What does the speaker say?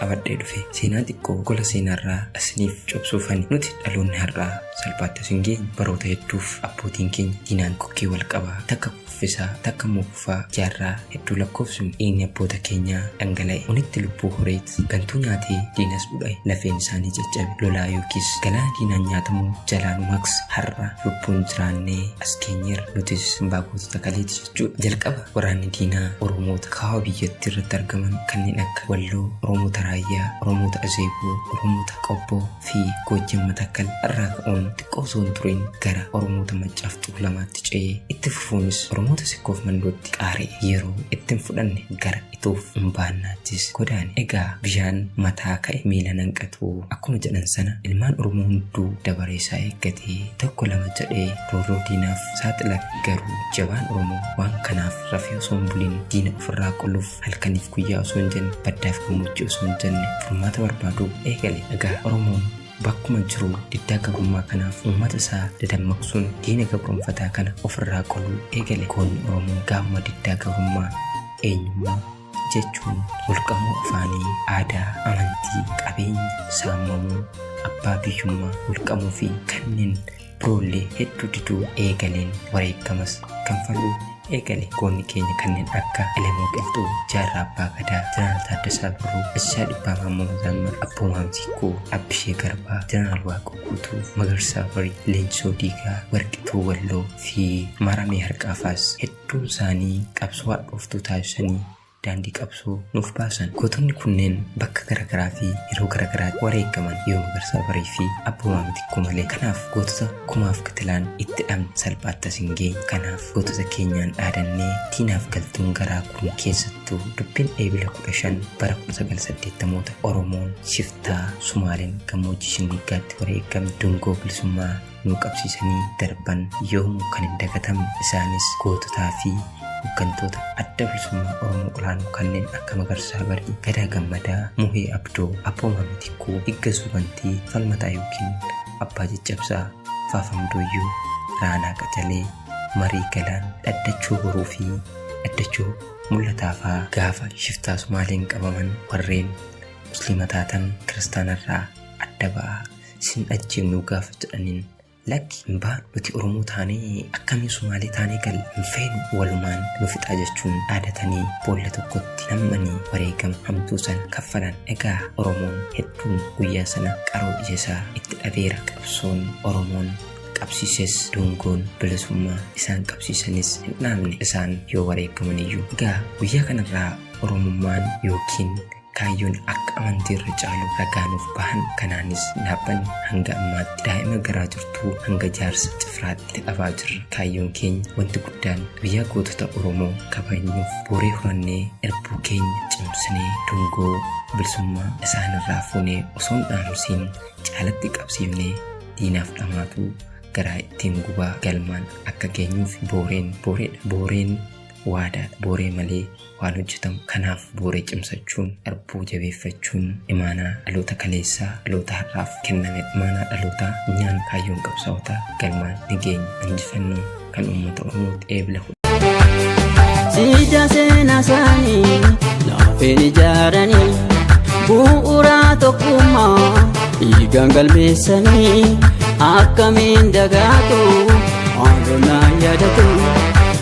qabadhee dhufe seenaa xiqqoo gola seenaarraa isiniif cobsuufani nuti dhaloonni har'aa salphaatti as hin geenye baroota hedduuf abbootiin keenya diinaan kokkee wal qabaa takka kuffisaa takka immoo kufaa jaarraa hedduu lakkoofsinu dhiigni abboota keenyaa dhangala'e unitti lubbuu horeet gantuu nyaatee diinas dhudhae lafeen isaanii caccabe lolaa yookiis galaana diinaan nyaatamuu jalaan maks har'a lubbuun jiraannee as keenyeerra nutis simbaa gootota kaleeti jechuudha jalqaba Waraanni diinaa Oromoota kaaba biyyattii irratti argaman kanneen akka Walloo, Oromoota Raayyaa, Oromoota Azeeboo, Oromoota Qobboo fi Goojjam Matakkal irraa ka'uun xiqqoo osoo hin turin gara Oromoota Maccaaf Tuulamaatti ce'ee itti fufuunis Oromoota Sikkoof Mandootti qaari'e. Yeroo itti hin fudhanne gara Itoof Umbaannaattis godaane. Egaa bishaan mataa ka'e miila nanqatu akkuma jedhan sana ilmaan Oromoo hunduu dabaree isaa eeggatee tokko lama jedhee roorroo diinaaf saaxila garuu jabaan oromoo waan kanaaf rafee osoo hin buliin diina ofirraa qoluuf halkaniif guyyaa osoo hin jenne baddaaf gammoojjii osoo hin jenne furmaata barbaaduu eegale egaa oromoon bakkuma jiru diddaa gabrummaa kanaaf uummata isaa dadammaqsuun diina gabroomfataa kana ofirraa qoluu eegale goonni oromoo gaafuma diddaa gabrummaa eenyummaa jechuun mulqamuu afaanii aadaa amantii qabeenya saamamuu abbaa biyyummaa mulqamuu fi kanneen Duulli hedduu diduu eegaleen wareeggamas kanfaluu eegale. Goonni keenya kanneen akka Elemoo Qilxuu, Jaarraa Abbaa Gadaa, Jeneraal Taaddasaa Birruu, Ajajaa Dhibbaa Maammoo Mazammir, Abboo Maamsiikkoo, Abbishee Garbaa, Jeneraal Waaqoo Guutuu, Magarsaa Barii, Leenjisoo Diigaa, Warqituu Walloo fi Maaramee Harqaafaas hedduun isaanii qabsoo hadhooftuu taasisanii daandii qabsoo nuuf baasan. Gootonni kunneen bakka gara garaa fi yeroo gara garaatti wareegaman yoo Magarsaa Barii fi Abboomaa Mitikkuu malee. Kanaaf gootota kumaaf kitilaan itti dhabne salphaatti as hin geenyu. Kanaaf gootota keenyaan dhaadannee diinaaf galtuun garaa gubuun keessattuu dubbiin Eebila 15 bara 1980moota Oromoon shiftaa Sumaaleen gammoojjii Shinniiggaatti wareegamni dungoo bilisummaa nuu qabsiisanii darban yoomuu kan hin dagatamne isaanis goototaa fi hooggantoota adda bilisummaa Oromoo olaanoo kanneen akka Magarsaa Barii, Gadaa Gammadaa, Muhee Abdoo, Abbooma Mitikkuu, Iggasuu Bantii, Falmataa Yookiin, Abbaa Caccabsaa, Faafam Dooyyoo, Raanaa Qacalee, Marii Galaan, Dhaddachoo Boruu fi Dhaddachoo Mul'ataafaa gaafa shiftaa Sumaaleen qabaman warreen Musliima taatan kiristaanarraa adda ba'aa Isin ajjeefnuu gaafa jedhaniin lakki hin baanu nuti Oromoo taanee akkamiin Sumaalee taanee gal hin feenu walumaan nu fixaa jechuun dhaadatanii boolla tokkotti nammanii wareegama hamtuu sana kaffalan egaa Oromoon hedduun guyyaa sana qaroo ija isaa itti dhabeera qabsoon Oromoon qabsiises dungoon bilisummaa isaan qabsiisanis hin dhaabne isaan yoo wareegamaniyyuu egaa guyyaa kanarraa Oromummaan yookiin Kaayyoon akka amantii irra caalu ragaa nuuf bahan kanaanis dhaabbanni hanga ammaatti daa'ima garaa jirtuu hanga jaarsa cifraatti itti dhabaa jirra. Kaayyoon keenya wanti guddaan guyyaa gootota Oromoo kabajnuuf booree horannee irbuu keenya cimsinee dungoo bilisummaa isaanirraa fuunee osoo hin dhaamsiin caalatti qabsiifnee diinaaf dhamaatuu garaa ittiin gubaa galmaan akka geenyuuf booreen booreedha. Booreen waadaadha. Booree malee waan hojjetamu kanaaf bu'uura cimsachuun arbuu jabeeffachuun imaanaa dhaloota kaleessaa dhaloota har'aaf kenname imaanaa dhalootaa nyaan kaayyoon qabsaa'otaa galmaan ni geenya injifannoon kan uummata oromooti eebla Siidaa seenaa isaanii laafeen ijaaranii bu'uuraa tokkummaa dhiigaan galmeessanii akkamiin dagaatu haalonaa yaadatu.